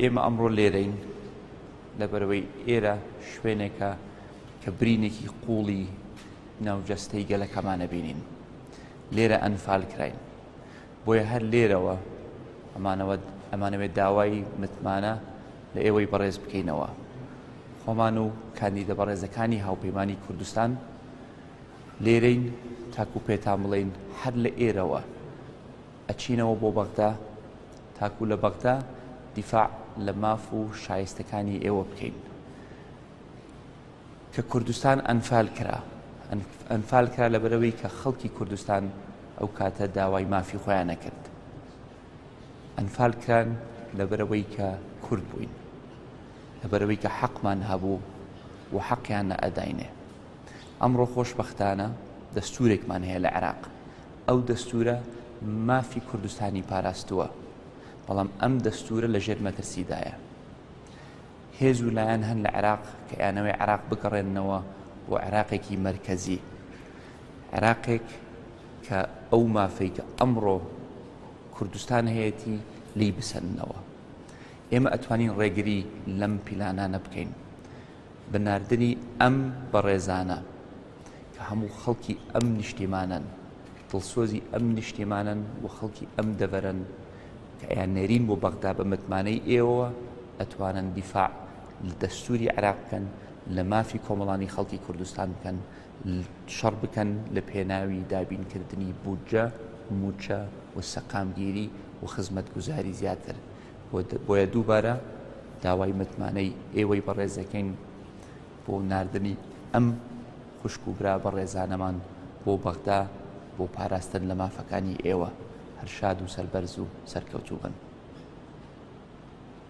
ئێمە ئەمڕۆ لێرەین لەبەرئەوەی ئێرە شوێنێکە کە برینێکی قوڵی ناو جەستەی گەلەکەمانە بینین لێرە ئەنفال کراین بۆیە هەر لێرەوە ئەمانەوە ئەمانەوێت داوای متمانە لە ئێوەی بەڕێز بکەینەوە خۆمان و کاندیدە بەڕێزەکانی هاوپەیمانانی کوردستان لێرەین تاکو پێتان بڵین هەر لە ئێرەوە ئەچینەوە بۆ بەغدا تاکو لە بەغدا دیفاع لە ماف و شایستەکانی ئێوە بکەین. کە کوردستان ئەنفال کرا ئەنفال کرا لە بەرەوەی کە خەڵکی کوردستان ئەو کاتە داوای مافی خۆیان نەکرد ئەنفال کران لە بەرەوەی کە کورد بووین لە بەرەوەی کە حەقمان هەبوو و حەقیان نە ئەداینێ ئەمڕۆ خۆشببختانە دەستورێکمان هەیە لە عێراق ئەو دەستوورە مافی کوردستانی پاراستووە، بەڵام ئەم دەستوورە لە ژێر مەترسیدایە. هێز و لایەن هەن لە عێراق کە ئەیانەوەی عێراق بگەڕێننەوە بۆ عێراقێکی مەرکەزی، عێراقێک کە ئەو مافەی کە ئەمڕۆ کوردستان هەیەتی لی بسەننەوە. ئێمە ئەتوانین ڕێگری لەم پیلانانە بکەین. بە ناردنی ئەم بەڕێزانە کە هەموو خەڵکی ئەم نیشتیمانەن دڵسۆزی ئەم نیشتیمانەن و خەڵکی ئەم دەڤەرن کە ئەیان نێرین بۆ بەغدا بە متمانەی ئێوە ئەتوانن دیفاع لە دەستوری عراق بکەن لە مافی کۆمەڵانی خەڵکی کوردستان بکەن شەڕ بکەن لە پێناوی دابینکردنی بودجە موچە و سەقامگیری و خزمەت گوزاری زیاتر بۆیە دووبارە داوای متمانەی ئێوەی بەڕێزەکەین بۆ نردنی ئەم خوشک و برا بەڕێزانەمان بۆ بەغدا بۆ پاراستن لە مافەکانی ئێوە هەرشاد و سەربەرز و سەرکەوتوو بن.